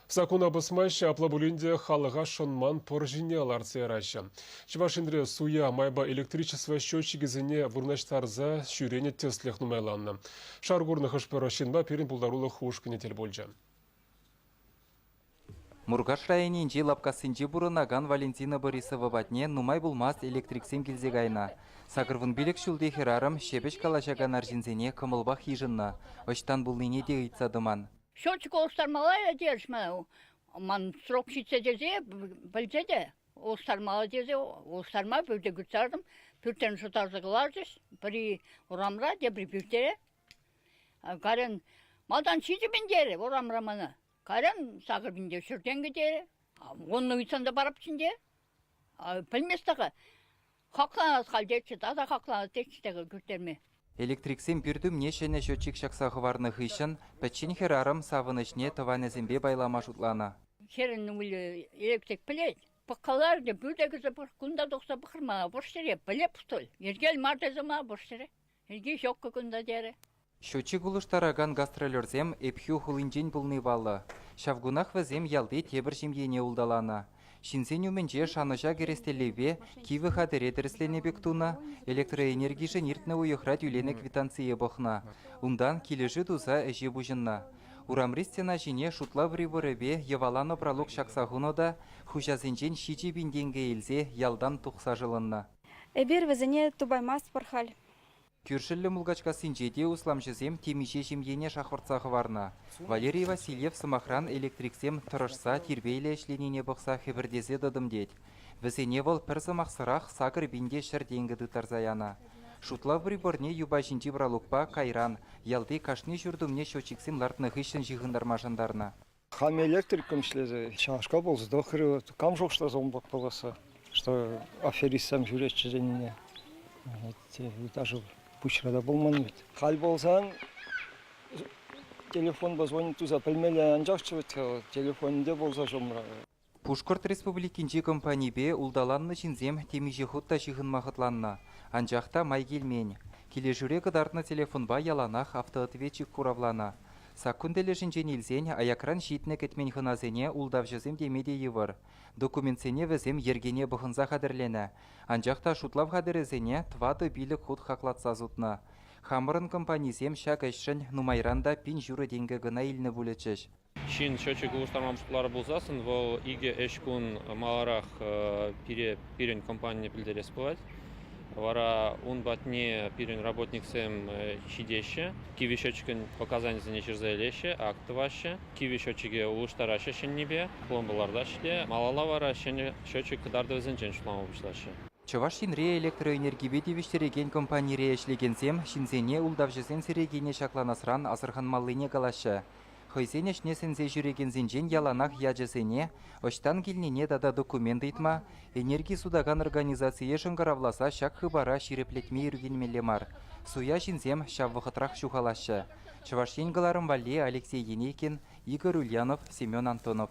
Саккуна пӑсмаҫҫӗ, апла пулин те халӑха шӑнман пӑр ҫине лартса яраҫҫӗ. Чӑваш Енре суя майпа электричество счетчикӗсене вырнаҫтарса ҫӳренӗ тӗслӗх нумайланнӑ. Шар курнӑ хӑш-пӗр ҫынпа пирӗн пултарулӑх ушкӑнӗ тӗл пулчӗ. Муркаш районӗнчи Лапкассинче пурӑнакан Валентина Борисова патне нумай пулмасть электриксем килсе кайнӑ. Сакӑрвун пилӗк ҫулти хӗрарӑм ҫепӗҫ калаҫакан арҫынсене кӑмӑлпах йышӑннӑ, ӑҫтан пулнине те ыйтса тӑман. Счетчика улӑштармалла терӗҫ мана. Ман срок ҫитсе тесе пӗлсе те улӑштармалла тесе улӑштарма пӳрте кырттартӑм. Пӳртрен шӑтарса кӑларчӗҫ. Пӗри урамра, тепри пӳртере. Карен малтан ҫичӗ пин терӗ урамра мана. Карен сакӑр пин те ҫӗртен кӗтерӗ. Вуннӑ ыйтсан та парӑп ҫинче. Пӗлмест-ха-ха, хакланас халь тетчӗ, тата хакланас тетчӗ текӗл кӳртерме. Электриксем пӳртумне ҫӗнӗ счетчик ҫакса хӑварнӑ хыҫҫӑн пӗччен хӗрарӑм савӑнӑҫне тӑванӗсемпе пайлама шутланӑ. Хӗрӗн ывӑлӗ электрик пӗлет, пӑхка лартӗ, пӳрте кӗрсе пӑх, кунта тухса пӑхрӑм мана, пӑх ҫӗре, пӗлеп, что ли, йӗркел мар тесе мана пӑх ҫӗре. Ӗлкӗр ҫоккӑ кунта терӗ. Ҫуччӗ кулӑштаракан гастролерсем Ӗпхӳ хулинчен пулни паллӑ. Ҫав кунах вӗсем ялти тепӗр ҫемьене улталанӑ. Ҫынсен умӗнче шанӑҫа кӗрес тӗллевпе кивӗ хатӗре тӗрӗсленӗ пек тунӑ, электроэнергишӗн иртнӗ уйӑхра тӳленӗ квитанцие пӑхнӑ. Унтан килӗшӳ туса ӗҫе пуҫӑннӑ. Урамри стена ҫине шутла приборӗпе йӑваланӑ пралук ҫакса хунӑ та, хуҫасенчен ҫичӗ пин тенкӗ илсе ялтан тухса шӑлӑннӑ. Эпир вӗсене тупаймастпӑр халь. Кӳршӗллӗ Мулкачкассинче те усламҫӑсем темиҫе ҫемьене шахвӑртса хӑварнӑ. Валерий Васильев, сӑмахран, электриксем тӑрӑшса тирпейлӗ ӗҫленине пӑхса хӗпӗртесе тӑтӑм тет. Вӗсене вӑл пӗр сӑмахсӑрах сакӑр пин те ҫӗр тенкӗ тыттарса янӑ. Шутлав приборне юпа ҫинчи пралукпа, кайран, ялти кашни ҫурт умне счетчиксем лартнӑ хыҫҫӑн ҫыхӑнтарма шантарнӑ. Хам электриком ӗҫлесе ҫавнашкал пулса тӑхрӗ. Кам шухӑшласа унпа пуласса, что аферистсем ҫӳреҫҫӗ тенине. Даже пуҫра та пулман вӗт. Халь пулсан телефонпа звонить туса пӗлмелле анчахчӗ вӗт телефонӗнте пулса ҫумра. Пушкӑрт Республикинчи компанипе улталаннӑ ҫынсем темиҫе хут та ҫыхӑнма хӑтланнӑ, анчах та май килмен. Килӗшӳре кӑтартнӑ телефонпа яланах автоответчик хуравланӑ. Саккун тӗлӗшӗнчен илсен аякран ҫитнӗ-кӗтмен хӑнасене ултавҫӑсем теме те йывӑр. Документсене вӗсем йӗркене пӑхӑнса хатӗрленӗ, анчах та шутлав хатӗрӗсене тӑватӑ-пилӗк хут хаклатса сутнӑ. Хамӑрӑн компанисем ҫак ӗҫшӗн нумайран та пин ҫурӑ тенкӗ кӑна илнӗ пулӗччӗҫ. Ҫын счетчик улӑштарма пултарар пулсассӑн вӑл икӗ ӗҫ кун маларах пире пирӗн компание пӗлтерес пулать. Вара ун патне пирӗн работниксем ҫитеҫҫӗ, кивӗ счетчикӑн показанийӗсене ҫырса илеҫҫӗ, акт тӑваҫҫӗ, кивӗ счетчике улӑштараҫҫӗ ҫӗннипе, пломба лартаҫҫӗ те малалла вара ҫӗнӗ счетчик кӑтартӑвӗсенчен шутлама пуҫлаҫҫӗ. Чӑваш Енре электроэнергипе тивӗҫтерекен компанире ӗҫлекенсем ҫынсене ултавҫӑсен серейкине ҫакланасран асӑрханмаллине калаҫҫӗ. хӑйсен ӗҫне сӗнсе ҫӳрекенсенчен яланах ячӗсене, ӑҫтан килнине тата документ ыйтма, энерги сутакан организацие шӑнкӑравласа ҫак хыпара ҫирӗплетме ӳркенмелле мар. Суя ҫынсем ҫав вӑхӑтрах ҫухалаҫҫӗ. Чӑваш Ен кӑларӑм валли Алексей Енейкин, Игорь Ульянов, Семен Антонов.